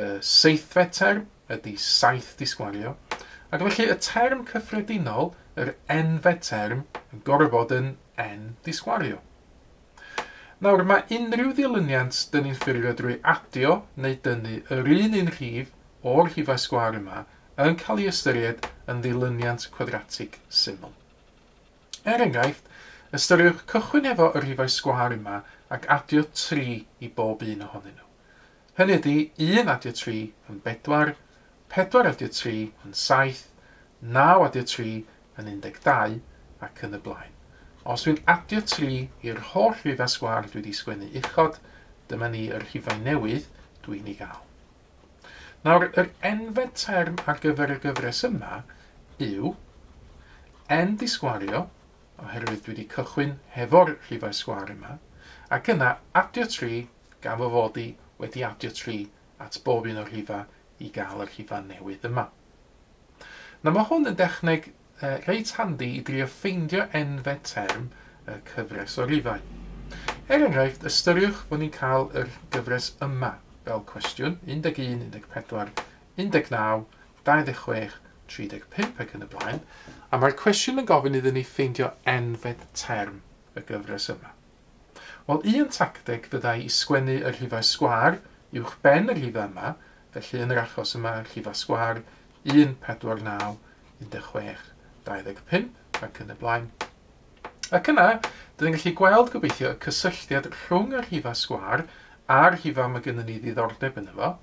Y seithfed term ydy saith disgwario, ac felly y term cyffredinol, yr enfed term, yn gorfod bod yn en disgwario. Nawr, mae unrhyw ddilyniant dyn ni'n ffurfio drwy adio neu dynnu yr un un rhif o'r rhifau sgwar yma yn cael ei ystyried yn ddilyniant cwadratig syml. Er enghraifft, ystyriwch cychwyn efo y rhifau sgwar yma ac adio 3 i bob un ohonyn nhw. Hynny ydi, un adio tri yn bedwar, pedwar adio tri yn saith, naw adio tri yn un deg dau, ac yn y blaen. Os dwi'n adio tri i'r holl rhifau sgwâr dwi 'di sgwennu uchod, dyma ni y rhifau newydd dwi'n ei gael. Nawr, yr enfed term ar gyfer y gyfres yma yw n disgwario, oherwydd dwi 'di cychwyn hefo'r rhifau sgwâr yma, ac yna adio tri gan fy fod i wedi adio tri at bob un o'r rhifau i gael y rhifau newydd yma. Na mae hwn yn dechneg uh, reit handi i drio ffeindio enfed term y cyfres o rifau. Er enghraifft, ystyriwch fod ni'n cael yr gyfres yma fel cwestiwn 11, 14, 19, 26, 35 ac yn y blaen, a mae'r cwestiwn yn gofyn iddyn ni ffeindio enfed term y gyfres yma. Wel, un tacteg fyddai i sgwennu y rhifau sgwâr uwch ben y rhifau yma, felly yn yr achos yma, rhifau sgwâr 1, 4, 9, 16, 25 ac yn y blaen. Ac yna, dyn ni'n gallu gweld gobeithio y cysylltiad rhwng y rhifau sgwâr a'r rhifau mae gennym ni ddiddordeb yn efo.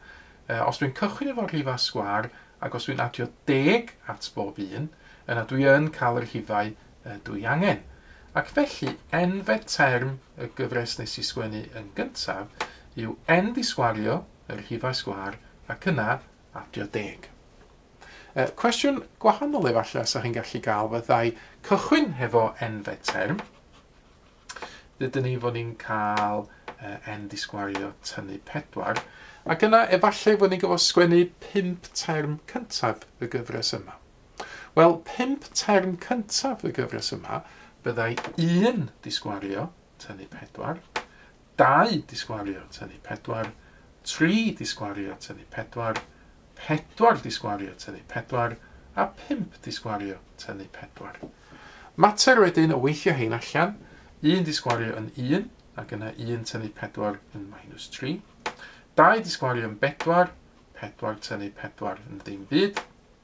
E, os dwi'n cychwyn efo rhifau sgwâr ac os dwi'n adio deg at bob un, yna dwi yn cael y rhifau ydw i angen. Ac felly, enfed term y gyfres nes i sgwennu yn gyntaf yw end i sgwario, y rhifau sgwar, ac yna adio deg. E, cwestiwn gwahanol efallai sa chi'n gallu gael fyddai cychwyn hefo enfed term. Dydyn ni fod ni'n cael end i sgwario tynnu pedwar. Ac yna efallai fod ni'n gyfo sgwennu pump term cyntaf y gyfres yma. Wel, pump term cyntaf y gyfres yma, byddai un disgwario tynnu pedwar, dau disgwario tynnu pedwar, tri disgwario tynnu pedwar, pedwar disgwario tynnu pedwar, a pump disgwario tynnu pedwar. Mater wedyn o weithio hein allan, un disgwario yn un, ac yna un tynnu pedwar yn minus tri, dau disgwario yn bedwar, pedwar tynnu pedwar yn ddim byd,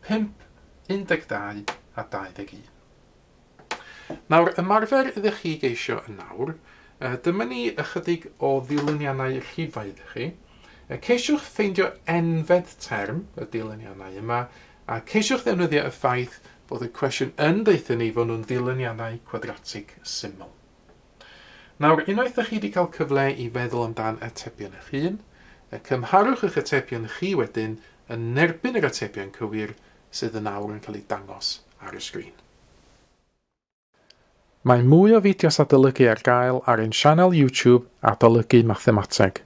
5, 12 a 21. Nawr, ymarfer ydych chi geisio yn nawr, dyma ni ychydig o ddilyniannau rhifau ydych chi. Ceisiwch ffeindio enfed term y dilyniannau yma, a ceisiwch ddefnyddio y ffaith bod y cwestiwn yn deuthyn ni fod nhw'n ddilyniannau cwadratig syml. Nawr, unwaith ydych chi wedi cael cyfle i feddwl amdan atebion eich hun, cymharwch eich atebion chi wedyn yn erbyn yr atebion cywir sydd yn awr yn cael eu dangos ar y sgrin. Mae mwy o fideos adolygu ar gael ar ein sianel YouTube Adolygu Mathemateg.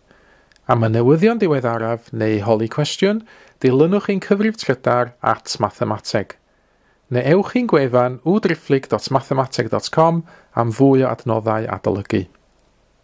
Am y newyddion diweddaraf neu i holi cwestiwn, dilynwch ein cyfrif trydar at Mathemateg. Neu ewch i'n gwefan www.driphlyg.mathemateg.com am fwy o adnoddau adolygu.